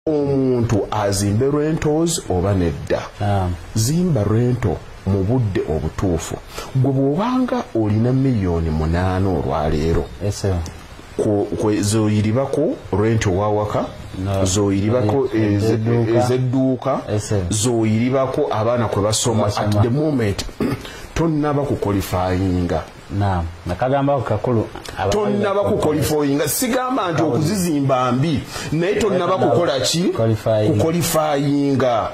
omuntu azimbe rentos oba nedda zimba rento mu budde obutuufu gwe bw'obanga olina miliyoni munaana olwaleero zoyiribako renti owawaka zoyiribako ezedduuka zoyiribako abaana kwe basoma at the moment tonnaba kukolifayinga tonnaba kukolifayinga sigamba nti okuzizimba mbi naye tonnaba kukola ki kukolifayinga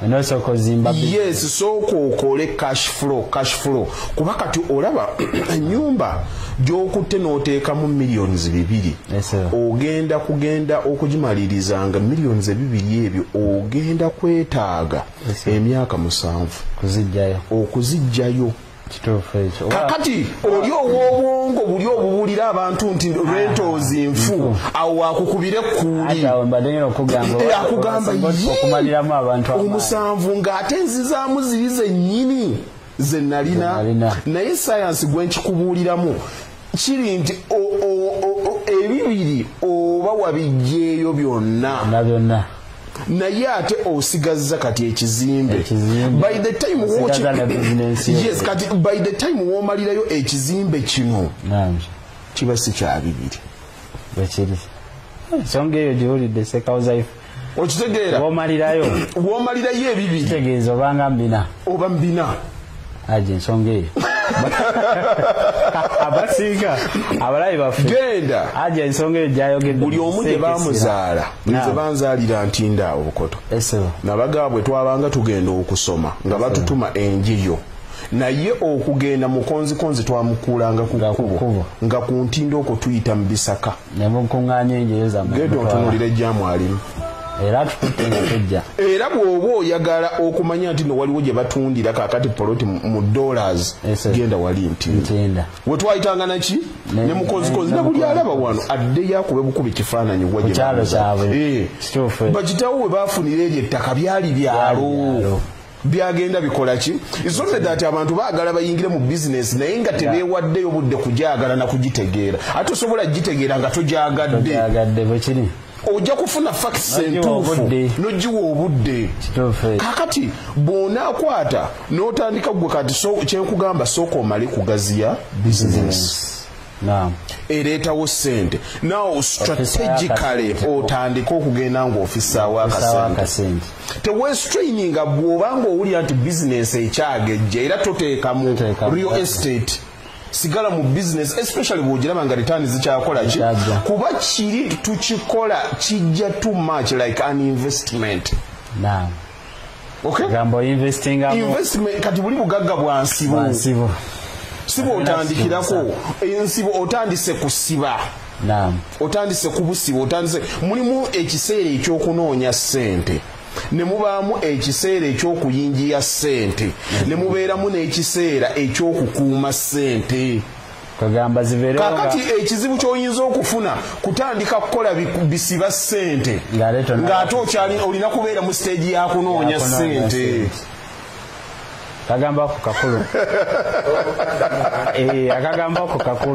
yes sooka okole cash flow cash flow kuba kati olaba enyumba gyokutte n'oteekamu millions bibiri ogenda kugenda okugimaliriza nga millions ebibiri ebyo ogenda kwetaaga emyaka musanvu okuzijjayo kakati oli owobwongo buli obubulira abantu nti rentals nfu awo wakukubire kuuliomusanvu eh, ngaate nzizaamu ziri zenyini zenalina naye sayansi gwenkikubuuliramu kiri nti ebibiri oba wabijjeeyo byonna byonna naye ate osigazza kati ekizimbe by the time yes kati by the time womalirayo ekizimbe kino kiba si kyabibiri bwekiri ensonga eyo giwulidde sekawuzaifu okitegeera womalirayo womalirayo ebibiri kitegeeza obanga mbina oba mbina aje ensonga eyo abasinga abalayi baffe genda aja ensonga eyo gyayogedde buli omu gye bamuzaala nze banzaalira ntinda awo bukoto nabagaa bwe twabanga tugenda okusoma nga batutuma enjiyo naye okugenda mukonzikonzi twamukuulanga ku kkubo nga ku ntindo okwo tuyita mu bisaka ne mukuŋŋaanya enjeyo zammwe genda otunuulira ejjaamu alimu era atukutte nga tejja era bw'oba oyagala okumanya nti no waliwo gye batundira kakati poloti mu dollars genda wali nti we twayitanga naki ne mukozikozi ne buli alaba wano addeyo akube bukuba ekifaananyi wa eh. bakitawo we baafunira eryo ettaka byali byalo byagenda bikola ki isonde that abantu baagala bayingire mu business naye nga tebeewaddeyo budde kugyagala na kugitegeera ate osobola gitegeera nga togyagadde bwekiri ojja kufuna facts entuufu nogiwa obudde kakati bwonaakwata n'otandika gwe kati kyenkugamba sooka omale kugaziya business ereetawo ssente naw strategically otandike okugenda ngaofisaawo akasente tewestraininga bwoba nga owulira nti bizinesi ekyagejja era toteekamu real estate sigala mu business especially bwogiraba nga return zikyakola ki kuba kiri tukikola kijja too much like an investment Naam. gambo investinga investment kati buli bugagga bwa nsibo nsibo sibo otandikirako ensibo otandise kusiba naam otandise kubusibo otandise mulimu ekiseera ekyokunoonya sente ne mubaamu ekiseera ekyokuyingiya sente ne mubeeramu n'ekiseera ekyokukuuma sente kakati ekizibu kyoyinza okufuna kutandika kukola bisiba sente ngaate okyali olina kubeera mu stage yakunoonya sente kagambako kakulu eh, akagambako kakulu